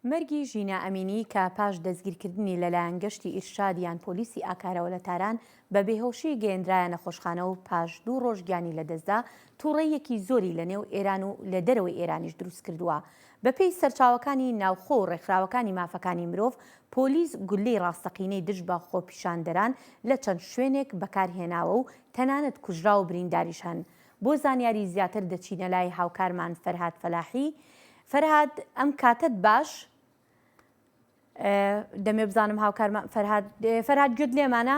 مەرگی ژینا ئەمینی کە پاش دەستگیرکردنی لەلایەن گەشتی ئیرشاد یان پۆلیسی ئاکارەوە لە تاران بە بێهۆشی گەیەندرایە نەخۆشخانە و پاش دوو ڕۆژ گیانی لەدەستدا، تووڕەییەکی زۆری لە نێو ئێران و لە دەرەوەی ئێرانیش دروست کردووە. بەپێی سەرچاوەکانی ناوخۆ و ڕێکخراوەکانی مافەکانی مرۆڤ، پۆلیس گوللەی ڕاستەقینەی دژ بە خۆپیشاندەران لە چەند شوێنێک بەکار هێناوە و تەنانەت کوژراو و برینداریش هەن. بۆ زانیاری زیاتر دەچینە لای هاوکارمان فەرهاد فەلاحی، فەرهاد ئەم کاتەت باش دەمێ بزانم هاوکارمان فەرهاد فەرهاد گوێت لێمانە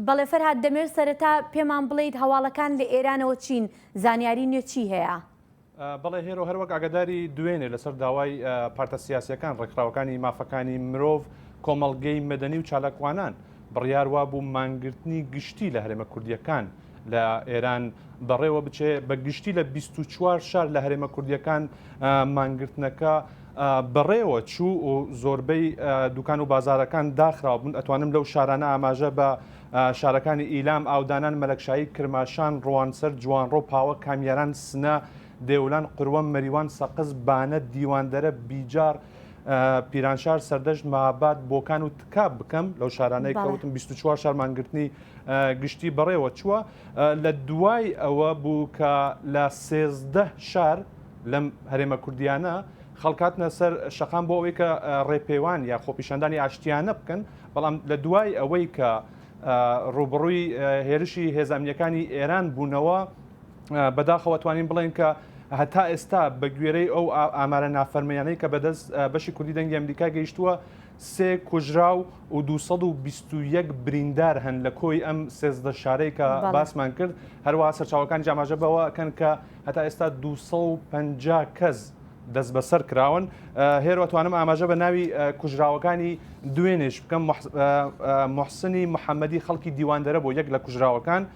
بەڵێ فەرهاد دەمێت سەرەتا پێمان بڵیت هەواڵەکان لە ئێرانەوە چین زانیاری نوێ چی هەیە؟ بەڵێ هێرۆ هەروەک ئاگاداری دوێنێ لەسەر داوای پارتە سیاسیەکان ڕێکخراوەکانی مافەکانی مرۆڤ کۆمەڵگەی مەدەنی و چالاکوانان بڕیار وابوو مانگرتنی گشتی لە هەرێمە کوردییەکان لە ئێران بەڕێوە بچێ بە گشتی لە 24 شار لە هەرێمە کوردیەکان مانگرتنەکە بەڕێوە چوو و زۆربەی دوکان و بازارەکان داخراو بوون ئەتوانم لەو شارانە ئاماژە بە شارەکانی ئیلام ئاودانان مەلەکشایی کرماشان ڕوانسەر جوانڕۆ پاوە کامیاران سنە دێولان قروە مەریوان سەقز بانە دیواندەرە بیجار پیرانشار سەردەشت مەهاباد بۆکان و تکاب بکەم لەو شارانەی کەوتم 24 شارمانگرتنی گشتی بەڕێوە چووە لە دوای ئەوە بوو کە لە سێزدە شار لەم هەرێمە کوردیانە خەڵکاتنە سەر شەقام بۆ ئەوەی کە ڕێپێوان یا خۆپیشاندانی ئاشتیانە بکەن بەڵام لە دوای ئەوەی کە ڕوبڕووی هێرشی هێزانیەکانی ئێران بوونەوە بەداخەوە توانین بڵێن کە هەتا ئێستا بە گوێرەی ئەو ئامارە نافەرمیانەی کە بەدەست بەشی کوردی دەنگی ئەمریکا گەیشتووە سێ کوژرا و و 221 بریندار هەن لە کۆی ئەم سێزدە شارەی کە باسمان کرد هەروە سەرچاوەکان جاماژە بەوە کەن کە هەتا ئێستا 250 کەس دەست بەسەر کراون هێروەتوانم ئاماژە بە ناوی کوژراوەکانی دوێنێش بکەم محسنی محەممەدی خەڵکی دیواندەرە بۆ یەک لە کوژراوەکان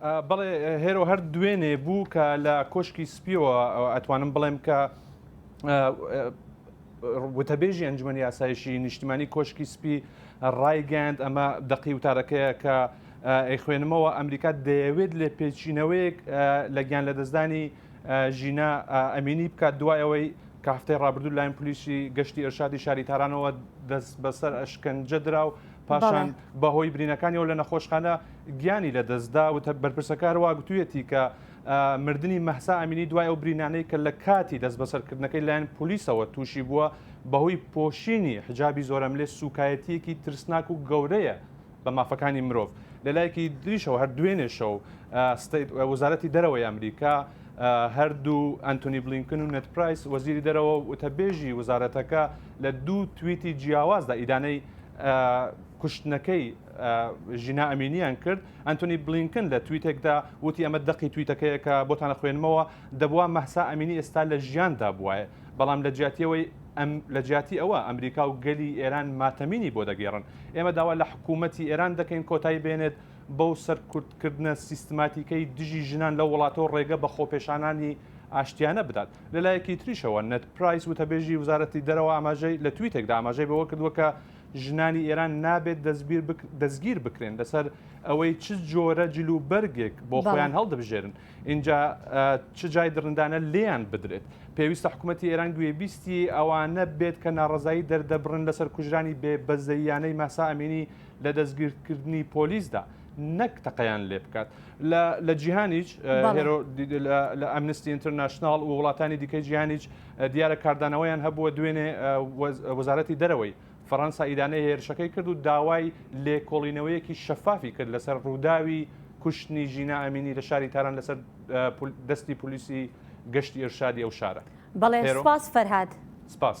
بەڵێ هێرۆ هەر دوێنێ بوو کە لە کۆشکی سپیەوە ئەتوانم بڵێم کە وتەبێژی ئەنجومەنی یاسایشی نیشتیمانی کۆشکی سپی ڕایگەاند ئەمە دەقی وتارەکەیە کە ئەیخوێنمەوە ئەمریکا دەیەوێت لێ پێچینەوەیەک لە گیان لە دەستدانی ژینا ئەمینی بکات دوایەوەی کە هەفتەی ڕابردوو لاین پلیسی گەشتی ئەرشادی شاری تارانەوە دەست بەسەر ئەشکەنجە درا و پاشان بەهۆی برینەکانیەوە لە نەخۆشخانە گیانی لەدەستدا و بەرپرسەکە هەروە گوتوویەتی کە مردنی مەهسا ئەمینی دوای ئەو برینانەی کە لە کاتی دەست بەسەرکردنەکەی لایەن پلیسەوە تووشی بووە بەهۆی پۆشینی حجابی زۆرەملێ سوکایەتیەکی ترسناک و گەورەیە بە مافەکانی مرۆڤ لەلایەکی دریشەوە هەر دوێنێشەو وەزارەتی دەرەوەی ئەمریکا هەردوو ئەنتۆنی بلینکن و نت پرایس وەزیری دەرەوە وتەبێژی وزارەتەکە لە دوو تویتی جیاوازدا ئیدانەی کوشتنەکەی ژینا ئەمینیان کرد ئەنتۆنی بلینکن لە تویتێکدا وتی ئەمە دەقی تویتەکەیە کە بۆتان خوێنمەوە دەبووە مەهسا ئەمینی ئێستا لە ژیاندا بواە بەڵام لە جیاتیەوەی ئەم لە جیاتی ئەوە ئەمریکا و گەلی ئێران ماتەمینی بۆ دەگێڕن ئێمە داوا لە حکوومەتی ئێران دەکەین کۆتایی بێنێت بەو سەرکوتکردنە سیستماتیکەی دژی ژنان لە وڵاتەوە ڕێگە بە خۆپێشانانی ئاشتیانە بدات. لەلایەکی تریشەوە نێد پرایس وتەبێژی وزارەتی دەرەوە ئاماژەی لە تویتێکدا ئاماژەی بەوە کردووە کە ژنانی ئێران نابێت دەستگیر بکرێن لەسەر ئەوەی چ جۆرە جل و بەرگێک بۆ خۆیان هەڵدەبژێرن اینجا چ جای دڕندانە لێیان بدرێت پێویستە حکوومەتتی ئێران گوێبیستی ئەوانە بێت کە ناڕزایی دەردەبڕن لەسەر کوژرانی بێ بەزەییانەی ماسا ئەمینی لە دەستگیرکردنی پۆلیسدا نەک تەقەیان لێ بکات لە جیهانیش هێرۆ لە ئەمنستی ئینتەرناشنناڵ و وڵاتانی دیکەی جیهانیش دیارە کاردانەوەیان هەبووە دوێنێ وەزارەتی دەرەوەی فەڕەنسا ئیدانەی هێرشەکەی کرد و داوای لێکۆڵینەوەیەکی شەفافی کرد لەسەر ڕووداوی کوشتنی ژینا ئەمینی لە شاری تاران لەسەر دەستی پلیسی گەشتی ئەرشادی ئەو شارە بەڵێ سپاس فەرهاد سپاس.